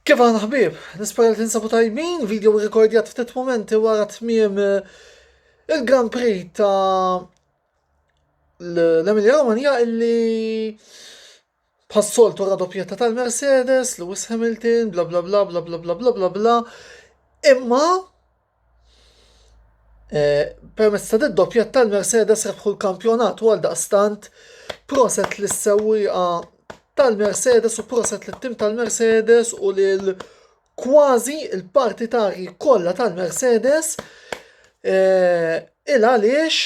Kif aħna ħbib, nispera li tinsabu tajbin, video rekordjat ftit momenti wara tmiem eh, il-Grand Prix ta' l-Emilia Romagna illi bħas-soltu radopjetta tal-Mercedes, Lewis Hamilton, bla bla bla bla bla bla bla bla bla. Imma Permezz ta' d-doppjett tal-Mercedes rebħu l-kampjonat u għaldaqstant proset lis-sewwieqa tal-Mercedes u proset lit-tim tal-Mercedes u lil kważi l-partitarji kollha tal-Mercedes il-għaliex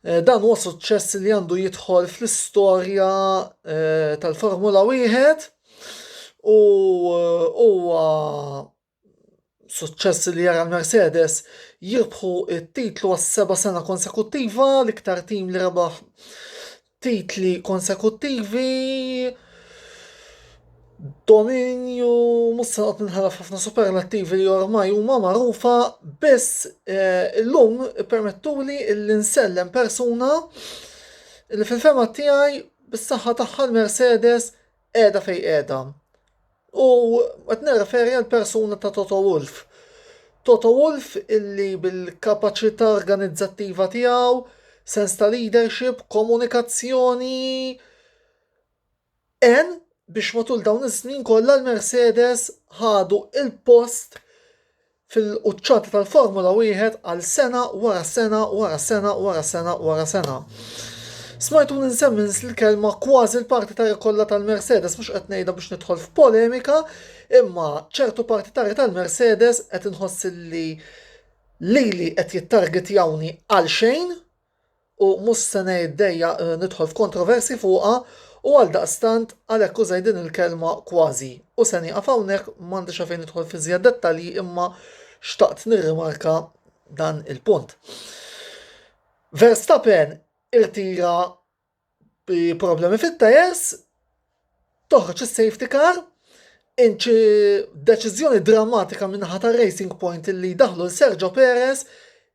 Eh, dan huwa suċċess li għandu jidħol fl-istorja eh, tal-Formula 1 u eh, huwa suċċess li jara l-Mercedes jirbħu it-titlu għas seba sena konsekuttiva l-iktar tim li rebaħ titli konsekuttivi, dominju, mhux se noqgħod ninħalaf ħafna superlattivi li ormai huma magħrufa, biss eh, illum permettuli li nsellem persuna li fil-fema tiegħi bis-saħħa tagħha l-Mercedes qiegħda fejn qiegħda. U qed nirreferi għal persuna ta' Toto Wolf. Toto Wolf illi bil-kapaċità organizzattiva tiegħu, sens ta' leadership, komunikazzjoni en biex matul dawn is-snin kollha l-Mercedes ħadu il-post fil-quċċata tal-Formula Wieħed għal sena wara sena wara sena wara sena wara sena. Smajtuni nsemmi l-kelma kważi l-partitari kollha tal-Mercedes mhux qed ngħidha biex nidħol f'polemika, imma ċertu partitari tal-Mercedes qed inħoss li lili qed jittargetjawni għalxejn u mhux se ngħid dejjaq nidħol f'kontroversji fuqha u għaldaqstant għalhekk użajt din il-kelma kważi u se nieqaf hawnhekk m'għandix għalfejn nidħol f'iżjed dettalji imma xtaqt nirrimarka dan il-punt. Verstappen irtira Bi problemi fit-tajers, toħroġ is-safety car, inċi deċiżjoni drammatika min-naħa ta' Racing Point illi daħlu l Sergio Perez,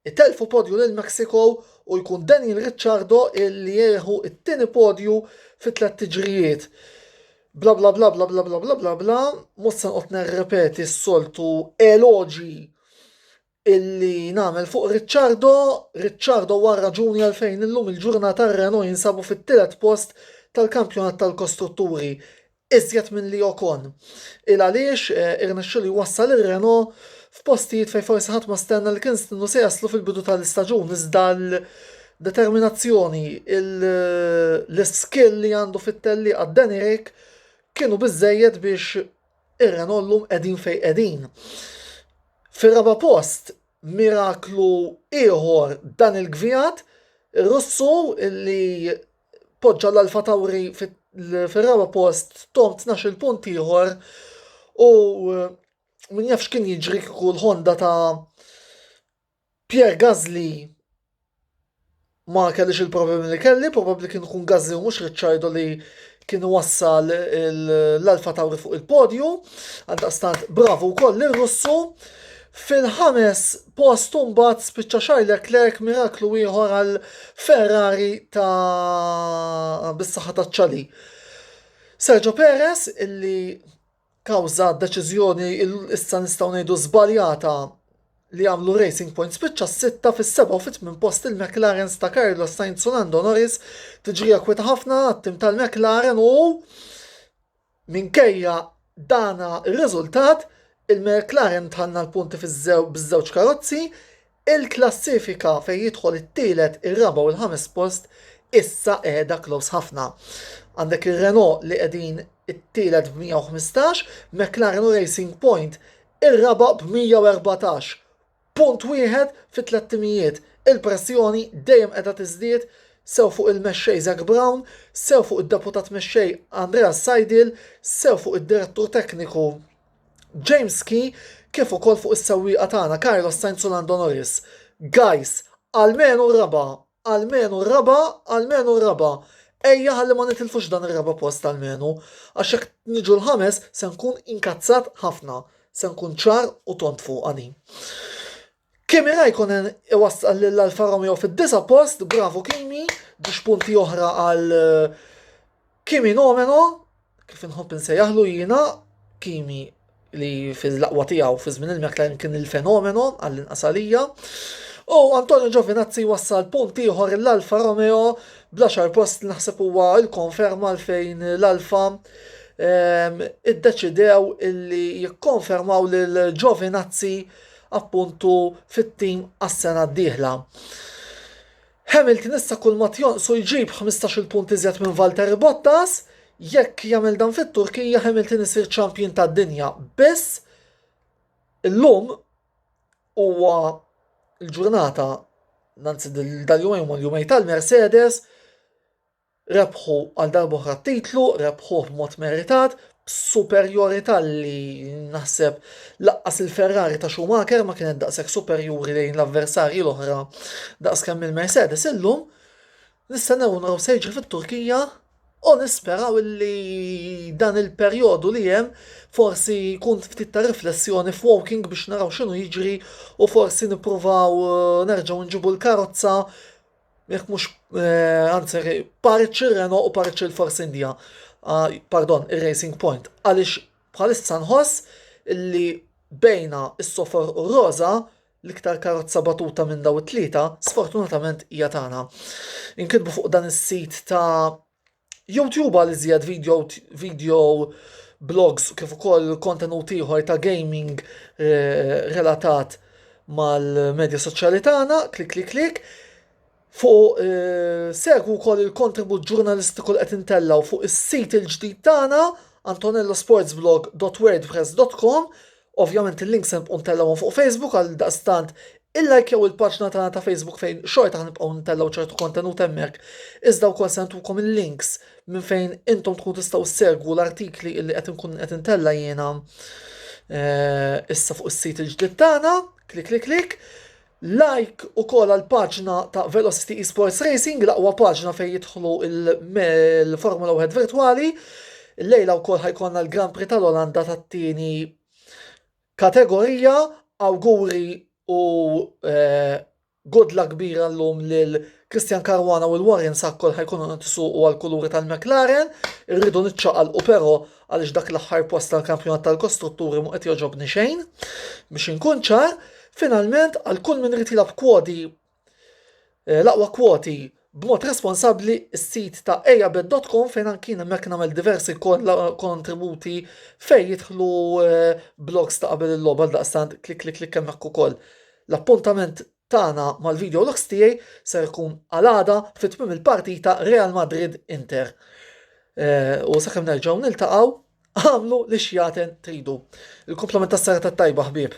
itelfu podju lil Mexico u jkun Daniel Ricciardo illi jieħu t-tieni podju fi tliet tiġrijiet. Bla bla bla bla bla bla bla bla bla, mhux se nqgħod nerrepeti s-soltu eloġi illi nagħmel fuq Ricciardo, Ricciardo huwa r-raġuni għalfejn illum il-ġurnata r-Renault jinsabu fit-tielet post tal-kampjonat tal-kostrutturi, iżjed milli Ocon. Il għaliex irnexxielu jwassal ir-Renault f'postijiet fejn forsi ħadd ma stenna li kien stinnu se jaslu fil-bidu tal-istaġun iżda l-determinazzjoni, l-iskill li għandu fit-tellieqa Danny Rick kienu biżżejjed biex Ir-Renault llum qegħdin fejn qegħdin. Fir-raba' post, miraklu ieħor dan il-gvijat, Russu li poġġa l-Alfa Tauri fir-raba' post tom 12 punt ieħor u min jafx kien jiġri kieku l-Honda ta' Pierre Gasly ma kellix il-problemi li kelli, probabbli kien ikun Gasly u mhux Ricciardo li kien wassal l-Alfa Tauri fuq il-podju, għandaqstant bravu wkoll lil Russu. Fil-ħames post mbagħad spiċċa Charles Leclerc miraklu ieħor għal Ferrari ta' bis-saħħa taċ-ċali. Sergio Perez illi kawża deċiżjoni issa nistgħu ngħidu żbaljata li għamlu Racing Point spiċċa s-sitta fis-seba' u fit-tmien post il-McLarens ta' Carlos Sainz u Lando Norris tiġrija kwieta ħafna għat-tim tal-McLaren u minkejja dana r-riżultat il-McLaren tħanna l-punti fiż-żew biż-żewġ karozzi Il-klassifika fejn jidħol it-tielet, ir-raba' u l-ħames post issa qiegħda close ħafna. Għandek ir-Renault li qegħdin it-tielet b'115, McLaren u Racing Point ir-raba' b'114. Punt wieħed fi tlett timijiet. Il-pressjoni dejjem qiegħda tiżdied sew fuq il-mexxej Zak Brown, sew fuq id-deputat mexxej Andreas Seidl, sew fuq id-direttur tekniku, James Key kif ukoll fuq is-sewwieqa tagħna Carlos Sainz u Lando Norris. Guys, almenu r-raba', almenu r-raba', almenu r-raba'. Ejja ħalli ma nitilfux dan ir-raba' post almenu, għax jekk niġu l-ħames se nkun inkazzat ħafna, se nkun ċar u tont fuqha din. Kimi Raikkonen iwassal lil Alfa Romeo fid-disa post, bravo Kimi, biex punti oħra għal eh, Kimi Nomeno, kif inħobb insejjaħlu jiena, Kimi li fil-laqwa tiegħu fi żmien il-McLaren kien il-fenomeno għall-inqas għalija. U Antonio Giovinazzi wassal punt ieħor l-Alfa Romeo bla xar post naħseb huwa l-konferma fejn l-Alfa ehm, iddeċidew illi jikkonfermaw lil Giovinazzi appuntu fit-tim għas-sena d-dieħla. Hamilton issa kull ma tjonqsu jġib 15-il punt iżjed minn Valtteri Bottas, jekk jagħmel dan fit-Turkija Hamilton isir ċampjun tad-dinja. Biss illum huwa l-ġurnata nanzi dal-jumejn u l-jumej tal-Mercedes Rebħu għal darb'oħra t-titlu, rebħuh b'mod meritat, b'superjorità li naħseb lanqas il-Ferrari ta' Schumacher ma kienet daqshekk superjuri lejn l-avversarji l-oħra daqskemm il-Mercedes illum. Nistennew u naraw se jiġri fit-Turkija u nisperaw li dan il-perjodu li hemm forsi jkun ftit ta' riflessjoni f'Woking biex naraw x'inhu jiġri u forsi nippruvaw nerġgħu nġibu l-karozza Jekk mhux eh, anzi parċi Renault u parċi l-Force India, ah, pardon, ir-Racing Point, għaliex bħalissa nħoss li bejna s-sofor u roza l-iktar karozza batuta minn daw it-tlieta, sfortunatament hija tagħna. Inkitbu fuq dan is-sit ta' YouTube għal iżjed video, video blogs kif ukoll kontenut ieħor ta' gaming eh, relatat mal-medja soċjali tagħna, klik klik klik. Fuq eh, segwu wkoll il-kontribut ġurnalistiku li qed intellaw fuq is-sit il-ġdid tagħna antonellosportsblog.wordpress.com Ovvjament il-links se nibqgħu ntellgħuhom fuq Facebook għaldaqstant illajkjaw il-paġna tagħna ta' Facebook fejn xorta ħanibqgħu ntellgħu ċertu kontenut hemmhekk, iżda wkoll se ntukom il-links minn fejn intom tkunu tistgħu ssegwu l-artikli illi qed inkun qed intella' jiena eh, issa fuq is-sit il-ġdid tagħna, klik klik klik. Like ukoll għall-paġna ta' Velocity Esports Racing, l-aqwa paġna fejn jidħlu l-Formula 1 virtwali. Illejla wkoll ħajkonna l-Grand Prix tal-Olanda tat-tieni kategorija. Awguri u eh, good luck kbira llum lil Christian Caruana u l-Warren Sakkol ħajkunu nitisuqu għall-kuluri tal-McLaren. Irridu niċċaqalqu però għaliex dak l-aħħar post tal-kampjonat tal-kostrutturi mu qed joġobni xejn, biex inkun ċar, finalment għal kull min irid jilgħab kwoti eh, l-aqwa kwoti b'mod responsabbli s-sit ta' ejabet.com fejn anki hemmhekk nagħmel diversi kontributi fejn jidħlu eh, blogs ta' qabel il-logħba daqstant klik klik klik hemmhekk ukoll. L-appuntament Tagħna mal-video logs tiegħi ser ikun għal għada fi tmiem il-partita Real Madrid Inter. Eh, u sakemm nerġgħu niltaqgħu, għamlu li xjaten tridu. Il-komplement tas-serata tajba ħbieb.